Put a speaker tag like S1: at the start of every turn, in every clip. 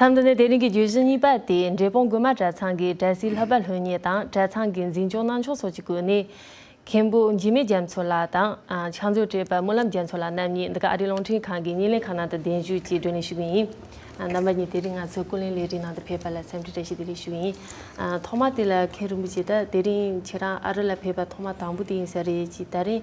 S1: མཚམས་འདི་ནི་དེ་རིང་གི་བརྗོད་གཞི་གཉིས་པ་སྟེ་འབྲས་སྤུངས་དགོན་མ་གྲྭ་ཚང་གི་གྲྭ་སའི་ལྷ་པ་ལྷུན་གཉིས་དང་གྲྭ་ཚང་གི་འཛིན་སྐྱོང་གནང་ཕྱོགས་སོགས་ཀྱི་སྐོར་ནས། མཁན་པོ་འཇིགས་མེད་རྒྱ་མཚོ་ལགས་དང། ཕྱག་མཛོད་བཀྲས་པ་སྨོན་ལམ་རྒྱ་མཚོ་ལགས་རྣམ་གཉིས་འདི་ག་ཨ་རིའི་རླུང་འཕྲིན་ཁང་གི་གཉིས་ལན་ཁང་ནང་དུ་གདན་ཞུས་ཀྱིས་བགྲོ་གླེང་ཞུ་གི་ཡིན། རྣམ་པ་གཉིས་དེ་རིང་ང་ཚོའི་སྐུ་ལུས་ལས་རིགས་ནང་དུ་ཕེབས་པ་ལ་སེམས་ཁྲལ་བཀྲ་ཤིས་བདེ་ལེགས་ཞུ་གི་ཡིན། ཐོག་མ་དེ་ལ་མཁན་རིན་པོ་ཆེ་དག་དེ་རིང་ཁྱེད་རང་ཨ་རི་ལ་ཕེབས་པ་ཐོག་མ་དང་པོ་དེ་ཡིན་ས་རེད་ཅེས་ད་རིང་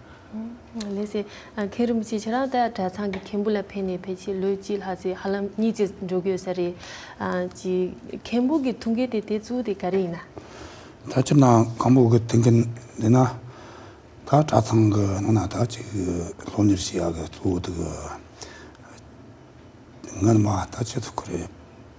S2: ལེ་
S1: ཚེ། མཁན་རིན་པོ་ཆེ་ཁྱེད་རང་ལྟ་གྲྭ་ཚང་གི་མཁན་པོ་ལ་ཕན་ནས་ཕལ་ཆེར་ལོ་གཅིག་ལྷག་ཚེ་ཧ་ལམ་གཉིད་ཀྱིས་འགྲོ་དགོས་ས་རེད། གཅིག། མཁན་པོ་གི་ཐུགས་འགན་དེ་དེ་གཙོ་བོ་དེ་ག་རེ་ཡིན་ན། ད་ཕྱིར་ན་
S3: མཁན་པོ་གི་ཐུགས་འགན་འདི་ན་ད་གྲྭ་ཚང་གི་ནང་ན་ད་གཅིག་སློབ་གཉེར་བྱེད་ཡག་གི་གཙོ་བོ་དེ་གི། ངའི་ནུ་མ་ད་ཆེད་དུ་ཁུ་རེད།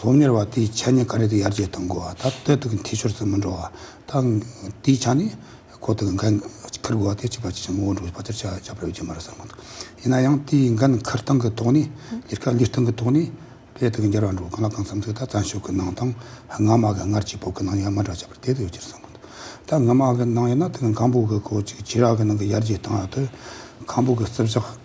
S3: སློབ་གཉེར་བ་དེའི་ཆ་ནས་ག་རེ་དུ་ཡར་རྒྱས་གཏོང་དགོས་བ་ད་ལྟ་དུ་གི་འཐུས་ཤོར་ཙམ་མི་འགྲོ་བ་ད་དེའི་ཆ་ནས་གོ་དུ་གི་འགན་འཁུར་དགོས་བ་དེ་གཅིག་པ་གཅིག་ཆ་མི་འོང་འགྲོ་བ་བ་དེར་ཆ་བཞག་པ་ཡོད་རྒྱུ་མ་རེད་བསམ་གོ་ཡིན་ན་ཡང་དེའི་འགན་འཁུར་སྟངས་ཀི་ཐོག་ནས་ལས་ཀ་ལས་སྟངས་ཀི་ཐོག་ནས་བེད་དུ་གི་འགྱར་བ་འགྲོ་གང་ལ་གང་འཚམ་ཚིག་ད་བཙན་ཤོག་གི་ནང་དང་སྔ་མ་གི་སྔར་གྱི་བོད་གི་ནང་ཡང་མ་འདྲ་ཁྱད་པར་དེ་དུ་ཡོད་རྒྱུར་བསམ་གོ་ད་སྔ་མ་གི་ནང་ཡིན་ན་དེ་གི་གང་བོད་གི་གོ་ཆི་ཆི་ར་གི་ནང་གི་ཡར་རྒྱས་གཏོང་བ་དུ་གང་བོད་གི་རྩིབ་ཞག་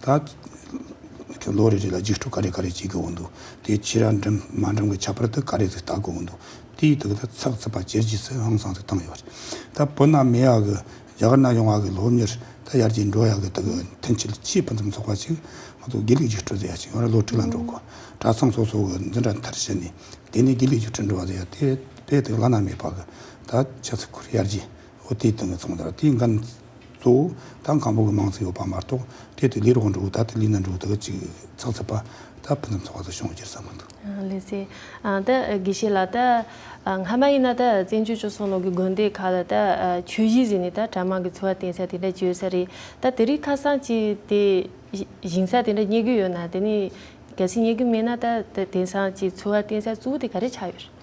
S3: ད། ཁྱོད་ལོ་རེ་རེ་ལ་རྗེས་འཕྲོ་ག་རེ་ག་རེ་བྱེད་དགོས་འདུག་དེ་ཕྱི་ར་འགྲིམ་མ་འགྲིམ་གི་ཁྱད་པར་དུ་ག་རེ་ཟིག་བལྟ་དགོས་འདུག་དེའི་དུས་ད་ཚགས་ཚུད་པ་ཇེར་ཇི་སི་ཧང་སང་ཟིག་བཏང་ཡོད་རེད། ད་བོད་ན་མི་ཡག་གི་རྒྱ་གར་ན་ཡོང་བ་གི་ལོ་མྱུར་ད་ཡར་རྒྱས་འགྲོ་ཡག་གི་དུ་གི་མཐུན་ཆེད་ཆེས་ཕུན་སུམ་ཚོགས་པ་ཞིག་ང་ཚོ་དགེ་ལུགས་རྒྱུགས་སྤྲོད་ཟེར་ཡ་ཞིག་ཡོང་ར་ལོ་དྲུག་ལ་འགྲོ་དགོས་གྲ་ཚང་སོ་སོ་གི་འཛིན་གྲ་མཐར་ཕྱིན་ནས་དེ་ནས་དགེ་ལུགས་རྒྱུགས་སྤྲོད་འགྲོ་བ་ཟེར་ཡ་དེ་དཔེ་དེ་བླ་ན་མེད་པ་གི་ད་ཆ་ཚུ་ཁུར་ཡར་རྒྱས་འོ་དེའི་དུ་གི་ཚོང་དར་དེའི་འགན་གཙོ་བོ། ཐང་གང་པོ་གི་མང་ཚིག་ཡོད་པ་མ་གཏོགས་དེ་དེ་ལིར་འོག་འགྲོ་ད་དེ་ལི་ན་འགྲོ་དག་ཅིག་ཚག་ཚིག་པ། ད་ཕུ་ནུ་ཚོགས་ད་ཤོང་བརྒྱུར་ས་མི་འདུག། ལེ་ཚེ། ད་
S1: དགེ་བཤེས་ལགས་ད་སྔ་མ་ཡིན་ན་ད་བཙན་བྱོལ་བཅུ་གསུམ་ལོག་གི་དགོན་སྡེ་ཁག་ལ་ད་ཆོས་གཞིས་བཟི་ནས་ད་གྲྭ་དམངས་ཀྱི་འཚོ་བ་བརྟེན་ས་དེ་འདྲ་བྱོས་ས་རེད་ད་དེ་རིགས་ཁ་སང་ཅིག་དེ་བཞིན་ས་དེ་འདྲ་རྙེད་རྒྱུ་ཡོད་ན་དེ་ནས་གལ་སྲིད་རྙེད་རྒྱུ་མེད་ན་ད་དེང་སང་ཅིག་འཚོ་བ་བརྟེན་ས་གཙོ་བོ་དེ་ག་རེ་ཆགས་ཡོད་རེད།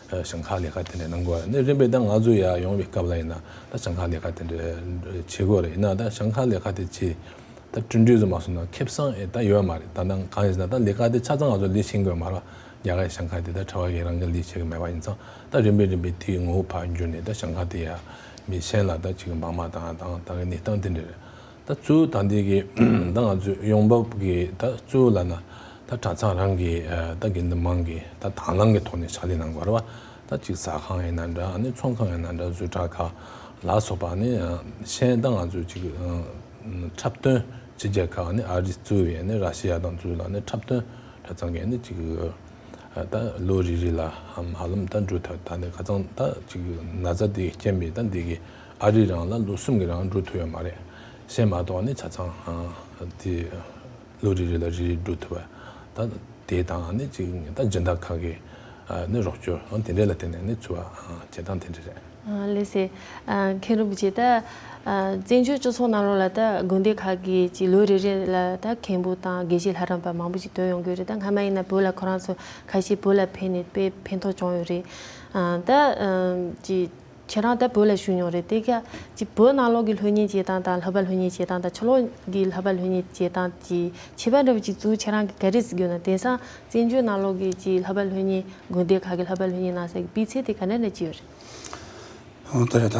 S2: ཞིང་ཁ་ལས་ཀ་དེ་འདྲ་གནང་དགོས་ནི་རིམ་པས་ད་ང་ཚོ་ཡར་ཡོང་བའི་སྐབས་ལ་ཡིན་ན་ད་ཞིང་ཁ་ལས་ཀ་དེ་འདྲ་བྱེད་དགོས་རེད་ཡིན་ན་ད་ཞིང་ཁ་ལས་ཀ་དེ་བྱེད་ད་བསྐྲུན་འགྲུས་སུ་མ་སོང་ན་ཁེབ་བསང་ཨེ་ད་ཡོད་མ་རེད་ད་ནང་གང་ཡིན་ཟེར་ན་ད་ལས་ཀ་དེ་ཆ་ཚང་ང་ཚོ་ལས་བྱེད་དགོས་མ་རེད་རྒྱ་གར་གྱི་ཞིང་ཁ་དེ་ད་ཁྲ་བ་ཡིན་རང་གི་ལས་བྱེད་ཀྱི་མེད་པ་ཡིན་ཙང་ད་རིམ་པས་རིམ་པས་དེའི་ངོ་བོ་བར་འགྱུར་ནས་ད་ཞིང་ཁ་དེ་ཡར་མི་བྱེད་ན་ད་ཅིག་མང་མ་དང་ད་གི་གནས་སྟངས་དེ་འདྲ་རེད་ད་གཙོས་ད་འདི་གི་ད་ང་ཚོས་ཡོང་འབབ་གི་ད་གཙོས་ལ་ན་ད་གྲྭ་ཚང་རང་གི་ད་དགེ་འདུན་མང་གི་ད་དང་བླངས་ཀྱི་ཐོག་ནས་ཕྱག་ལས་གནང་དགོས་པ་ད་གཅིག་ཟ་ཁང་ཡིན་ན་འདྲ་ནི་ཚོང་ཁང་ཡིན་ན་འདྲ་བཟོས་གྲྭ་ཁག་ལ་སོགས་པ་ནི་གཞན་ད་ང་ཚོས་གཅིག་འཁྲབ་སྟོན་བྱེད་རྒྱ་ཁག་ནི་ཨ་རི་གཙོས་བའི་ནི་ར་ཤི་ཡ་དང་གཙོས་ལ་ནི་འཁྲབ་སྟོན་གྲྭ་ཚང་གི་ནི་གཅིག་ད་ལོ་རེ་རེ་ལ་ཧམ་ཧ་ལམ་ད་འགྲོ་ཐབས་ད་ནི་ཁ་ཚང་ད་གཅིག་ན་ཚ་འདི་སྐྱེན་པའི་ད་འདི་གི། ཨ་རིས་རང་ལ་ལོ་གསུམ་གྱི་རང་འགྲོ་ཐུབ་ཡོད་མ་རེད། སེམས་མ་གཏོགས་ནི་ཆ་ཚང་དེ་ལོ་རེ་རེ་ལ་རེ་རེ་འགྲོ་ཐུབ་པ་ད་དེ་དང་ནི་གཅིག་ཉིན་ད་སྦྱིན་བདག་ཁག་གིས་ནི་རོགས་སྐྱོར་དེ་འདྲས་ལ་བརྟེན་ནས་ནི་འཚོ་བ་བྱེད་སྟངས་དེ་འདྲས་རེད། ལེ་སི།
S1: མཁན་རིན་པོ་ཆེ་ད། བཙན་བྱོལ་སྤྱི་ཚོགས་ནང་ལོགས་ལ་ད་དགོན་སྡེ་ཁག་གི་ཅིག་ལོ་རེ་རེ་ལ་ད་མཁན་པོ་དང་དགེ་བཤེས་ལྷ་རམས་པ་མང་པོ་ཅིག་དོན་ཡོང་གི་རེད་ད་སྔ་མ་ཡིན་ན་བོད་ལ་ཁོ་རང་ཚོ་ཁ་ཤས་བོད་ལ་ཕེབས་ནས་དཔེ་ཕན་ཐོགས་བྱུང་ཡོད་རེད། ད། ཁྱེད་རང་ད་བོད་ལ་བཞུགས་མྱོང་རེད་དེ། སྐད་ཅིག་བོད་ནང་ལོག་གི་ལྷོད་གཉེར་བྱེད་སྟངས་དང་ལྷོད་པ་ལྷོད་གཉེར་བྱེད་སྟངས་དང་ཕྱི་ལོག་གི་ལྷོད་པ་ལྷོད་གཉེར་བྱེད་སྟངས་ཀྱི་ཁྱད་པར་འདྲ་བོ་ཅིག་ཚུལ་ཁྱེད་རང་གིས་ག་རེ་གཟིགས་ཡོད་ན་དེང་སང་བཙན་བྱོལ་ནང་ལོག་གི་ཀྱི་ལྷོད་པ་ལྷོད་གཉེར་དགོན་སྡེ་ཁག་གི་ལྷོད་པ་ལྷོད་གཉེར་གནང་ས་ཀྱི་སྤུས་ཚད་དེ་ག་འདྲ་འདྲ་ཅིག་ཡོད་རེད། ཨོ་དེ་ལྟར་ད།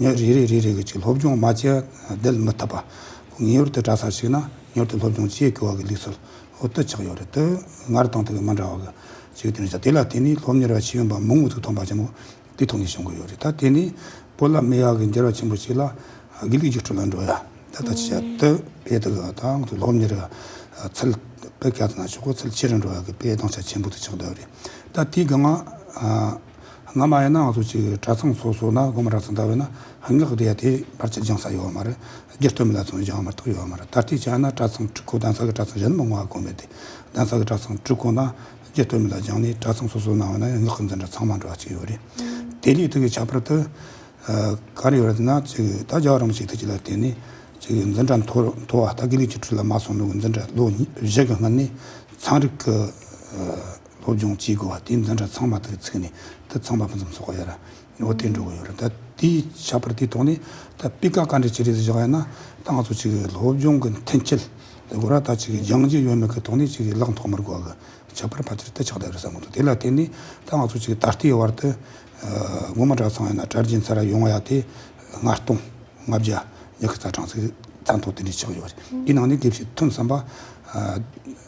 S3: ཉིན་རེ་རེ་རེ་རེ་བཞིན་སློབ་སྦྱོང་མ་བྱས་བསྡད་མི་ཐུབ་པ། ངེས་པར་དུ་གྲྭ་སར་ཞུགས་ན་མྱུར་དུ་སློབ་སྦྱོང་བྱེད་དགོས་བ་གི་ལུགས་སྲོལ་འུར་དུ་ཆགས་ཡོད་རེད་དེ། སྔར་དང་ཐུག་གི་མི་འདྲ་བ་གི་ཞིག་ཐོན་ཞིང་དེ་ལ་བརྟེན་ནས་སློབ་གཉེར་བ་ཤེས་ཡོན་པ་མང་བོ་ཚུགས་ཐོན་པ་ཆེན་པོ་དུས་ཐོག་ནས་བྱུང་དགོས་ཡོད་རེད་ད་དེ་ནི་བོད་ལ་མི་ཡག་གི་འགྱུར་བ་ཆེན་པོ་ཞིག་ལ་དགེ་ལུགས་རྒྱུགས་སྤྲོད་ལ་འགྲོ་ཡ་ད་ལྟ་ཆེ་བ་དེ་བས་དེ་ག་ད་ང་ཚོ་སློབ་གཉེར་བ་ཚུལ་དཔེ་ག་ཚང་ན་ཆོག་གོ་ཚུལ་ཆེ་རུ་འགྲོ་བ་གི་དཔེ་བདག་ཆ་ཆེན་པོ་དུ་ཆགས་འདོད་རེད་ད་དེ་ག་ང་ང་མ་ཡིན་ན་ང་ཚོ་གཅིག་གྲྭ་ཚང་སོ་སོ་ན་དགོན་མ་གྲྭ་ཚང་དར་བས་ན་སྔགས་བཟླས་ཡ་དེ་ཕར་ཆེར་སྦྱང་ས་ཡོད་བ་མ་རེད། སྒེར་སྟོད་མི་ལ་ཚང་སྦྱང་བ་མ་ཏོག་ཡོད་བ་མ་རེད་ད་ལྟའི་ཆ་ན་གྲྭ་ཚང་ཁྲི་ཁོ་གདན་ས་གི་གྲྭ་ཚང་གཞན་མི་ང་དགོན་མེད་དེ་གདན་ས་གི་གྲྭ་ཚང་ཁྲི་ཁོ་ན་སྒེར་སྟོད་མི་ལ་སྦྱང་ནས་གྲྭ་ཚང་སོ་སོ་ན་བས་ན་སྔགས་འཛིན་གྲྭ་ཚང་མང་དྲོ་བ་གཅིག་ཡོད་རེད། དེ་ལས་ཐུགས་ཀྱི་ཁྱད་པར་དུ། ག་རེ་ཡོད་རེད་ན་གཅིག་ད་རྒྱ་རོང་ཞིག་ཐུགས་ཀྱི་ལ་བརྟེན་ནས་གཅིག་འཛིན་གྲྭ་མཐོ་མཐོ་བ་ད་དགེ་ལུགས་ཀྱི་ཁྲི་ལ་མ་སོང་ནུ་གི་འཛིན་གྲྭ་ལོ་བཞི་གི་སྔོན་ནས་ཚངས་རིག་གི། སློབ་སྦྱོང་བྱེད་དགོས་བ་དེ་འཛིན་གྲྭ་ཚང་མ་དག་ཚིག་ནི་ད་ཚང་མ་ཕུན་སུམ་ཚོགས་ཡོད་ར་འོ་དེ་འགྲོ་གི་ཡོད་ར་ད་དེ་ཆགས་པར་དེ་ཐོག་ནས་ད་སྤི་ཀ་ག་འདྲ་བྱེད་རེ་ཟེར་བཞག་ཡ་ན་ད་ང་ཚོ་ཅིག་གི་སློབ་སྦྱོང་གི་འཐེན་འཁྱེར་ལེ་དགོས་ར་ད་ཅིག་གི་སྦྱང་བྱེད་ཡོད་མེད་གི་ཐོག་ནས་ཅིག་གི་ལག་འཐོག་མར་དགོས་གི་ཆགས་པར་ཕ་ཚིར་ད་ཆགས་ད་ཡོད་ས་མ་འདུག་དེ་ལ་བརྟེན་ནས་ད་ང་ཚོ་ཅིག་གི་ད་ལྟའི་བར་དུ་སྔོན་མ་གྲྭ་ཚང་ཡ་ན་གྲྭ་རྒྱན་ཚར་ཡོང་བ་ཡ་དེ་ལྔ་སྟོང་ལྔ་བརྒྱ་ཉི་ཁི་རྩ་གྲངས་ཚིག་རྩ་མཐོ་དེ་འདྲའི་ཆགས་ཡོད་ར་དེའི་ནང་ནས་དགེ་བཤེས་ཐོན་བསམ་པ་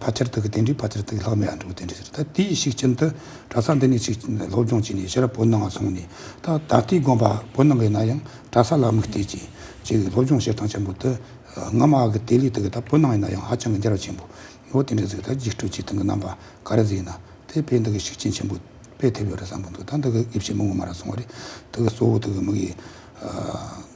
S3: ཕ་ཆེར་ཐུག་གི་དེ་འདྲའི་ཕ་ཆེར་ཐུག་ལྷག་མའི་ཨ་འབྲུག་དེ་འདྲ་ཞིག་རེད་ད་དེའི་ཞིག་ཁྱིམ་དུ་གྲྭ་ས་འདི་ནས་ཞིག་སློབ་སྦྱོང་བྱས་ནས་ཤི་ར་བོད་ནང་ང་སོང་ནས་ད་ད་ལྟའི་དགོངས་པ་བོད་ནང་གི་ན་ཡང་གྲྭ་ས་ལ་དམིགས་གཏད་ཀྱིས་ཅིག་སློབ་སྦྱོང་བྱེད་སྟངས་ཆེན་པོ་དུ་སྔ་མ་གི་དེ་ལས་ཐུག་གི་ད་བོད་ནང་གི་ན་ཡང་ཧ་ཅང་གི་འགྱར་བ་ཆེན་པོ་འོ་དེ་འདྲའི་ཟིག་ད་རྒྱུགས་སྤྲོད་བྱེད་སྟངས་གི་རྣམ་པ་ག་རེ་ཟིག་ཡིན་ན་དེ་ཕས་འདི་གི་ཤུགས་རྐྱེན་ཆེན་པོ་སྤེལ་ཐུབ་ཡོད་རེད་བསམ་གི་འདུག་ད་འདི་གི་དབྱེ་བྱེད་མི་ངོ་མ་ར་སོང་བ་རེད་དེ་གི་གཙོ་བོ་དེ་གི་མིག་གིས།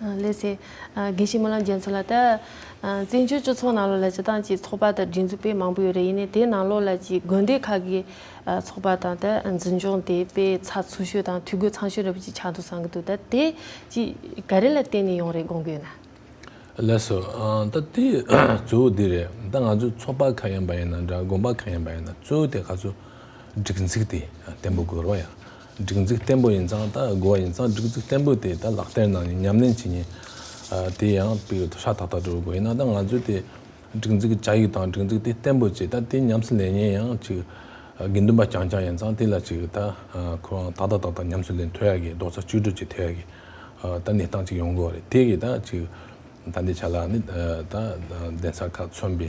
S3: ལེ་ཚན།
S1: དགེ་བཤེས་སྨོན་ལམ་རྒྱལ་མཚོ་ལགས། བཙན་བྱོལ་སྤྱི་ཚོགས་ནང་ལོགས་ལ་སྤྱི་བཏང་ཅིག་ཚོགས་པ་དང་སྒྲིག་འཛུགས་སྤེལ་མང་པོ་ཡོད་རེད་ཡིན་ནའི་དེ་ནང་ལོགས་ལ་ཅིག་དགོན་སྡེ་ཁག་གི་ཚོགས་པ་དང་ད་འཛིན་སྐྱོང་དེ་སྤེལ་ཚགས་ཚུགས་ཤོས་དང་འཐུས་སྒོ་ཚང་ཤོས་རེད་པ་ཅིག་ཆགས་འདུག་བསམ་གྱི་འདུག་ད་དེ་ཅིག་ག་རེ་ལ་བརྟེན་ནས་ཡོང་རེད་དགོངས་ཀྱི་ཡོད་ན། ལེགས་སོ།
S2: ད་དེ་གཙོ་བོ་འདི་རེད་ད་ང་ཚོ་ཚོགས་པ་ག་ཡིན་པ་ཡིན་ན་འདྲ་དགོན་པ་ག་ཡིན་པ་ཡིན་ན་གཙོ་བོ་དེ་ག་ཚོད་སྒྲིག་འཛིགས་དེ་བརྟན་པོ་དགོས་རོགས་ཡ། སྒྲིག་འཛུགས་བརྟན་པོ་ཡིན་ཙང་ད་དགོས་པ་ཡིན་ཙང་སྒྲིག་འཛུགས་བརྟན་པོ་དེ་ད་ལག་བསྟར་གནང་ནས་ཉམས་ལེན་བྱེད་ཉེན། དེ་ཡང་པི་ཡོད་དོ་ཧྲ་ཐག་ཐག་འགྲོ་དགོས་ཡིན་ན་ད་ང་ཚོས་དེ་སྒྲིག་འཛུགས་ཀྱི་བྱ་ཡིག་དང་སྒྲིག་འཛུགས་དེ་བརྟན་པོ་བྱས་ད་དེ་ཉམས་སུ་ལེན་ཉེན་ཡང་ཅིག་དགེ་འདུན་པ་རྐྱང་རྐྱང་ཡིན་ཙང་དེ་ལ་ཅིག་ད་ཁོ་རང་ཏག་ཏག་ཏག་ཏག་ཉམས་སུ་ལེན་ཐོས་ཡ་གི་རྡོག་རྩ་གཅིག་སྒྲིལ་གྱིས་ཐོས་ཡ་གི་ད་གནས་སྟངས་ཅིག་ཡོང་དགོས་པ་རེད་དེ་གི་ད་ཅིག་ད་འདི་བྱ་ལ་ནི་ད་གདན་ས་ཁག་མཚོན་པའི་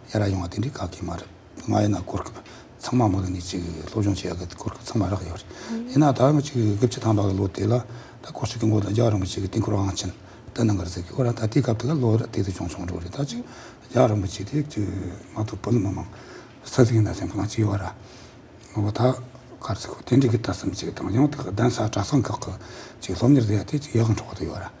S3: ཡ་རབས་ཡོང་བ་དེ་འདྲའི་ག་གེ་མ་རེད། ང་ཡིན་ན་གོ་སྐབས་ཚང་མ་མོ་ལ་ནས་ཅིག་སློབ་སྦྱོང་བྱེད་ཡ་གི་གོ་སྐབས་ཚང་མ་རག་ཡོད་རེད། ཡིན་ན་ད་ང་ཅིག་དགུ་བཅུ་ཐམ་པ་གི་ལོ་དེ་ལ་ད་ཁོ་ཚོ་གི་མགོ་ལ་རྒྱག་རིང་པོ་ཅིག་གི་སྟེང་འཁོར་བའང་ཕྱིན། ད་ནང་ཁར་ཟེར་གི་ཁོ་རང་ད་ལྟའི་སྐབས་དེ་ག་ལོ་རེད་དེ་དེ་ཅུང་ཆུང་འགྲོ་རེད་ད་ཅིག་རྒྱག་རིང་པོ་ཅིག་དེ་དུས་ང་ཚོ་བོད་མི་མང་ས་ཚིགས་ཡིན་ན་སེམས་ཁམས་ཅི་ཡོད་ར་ང་བོ་ད་གར་ཚིག་གོ་དེ་འདྲའི་གི་ལྟ་སེམས་ཅིག་དང་ཡང་དེ་ག་གདན་ས་གྲྭ་ཚང་ཁག་གི་ཅིག་སློབ་གཉེར་བསྡད་ཡ་དེ་ཅིག་ཡག་གི་འཕྲོ་བ་དུ་ཡོད་ར།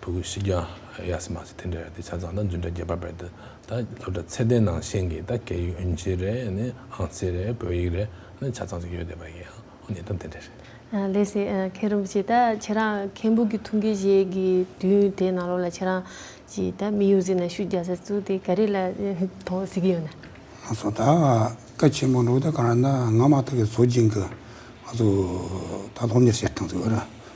S2: བུ་གུ་ཤི་རྒྱ་ཡ་སི་མ་སི་ཐེན་ཏྲེ་ར་ཏི་ཆ་ཚང་དང་རྫུན་ཏྲ་རྒྱལ་པ་བེར་ཏི་ད་སློབ་གྲྭ་ཚད་ལྡན་ནང་བཞེངས་ཀྱི་ད་སྐད་ཡིག་ཨུན་ཆི་རེ་ནི་ཨང་རྩི་རེ་བོད་ཡིག་རེ་ནི་ཆ་ཚང་ཅིག་ཡོད་བསྡད་པ་ཡིན་ཨང་ཨོ་ཉེས་དོན་ཐེན་ཏྲེ་རེ། ལེ་སི་མཁན་
S1: རིན་པོ་ཆེ་ད་ཁྱེད་རང་མཁན་པོ་གི་ཐུགས་འགན་བཞེས་གི་དུས་དེ་ནང་ལོགས་ལ་ཁྱེད་རང་གྱིས་ད་མི་ཡོ་ཟི་ན་ཤུ་རྒྱ་ས་ཚུགས་ཏེ་ག་རེ་ལ་ཐོང་ཟི་གི་ཡོད་ན། ང་ཚོ་ད་
S3: སྐད་ཆེན་པོ་འགྲོ་གི་ད་ག་རང་ད་ང་མ་ཐག་གི་ཚོ་སྦྱིན་གི་ང་ཚོ་ད་སློབ་གཉེར་བྱེད་སྟངས་ཚུ་ཨོ་ར།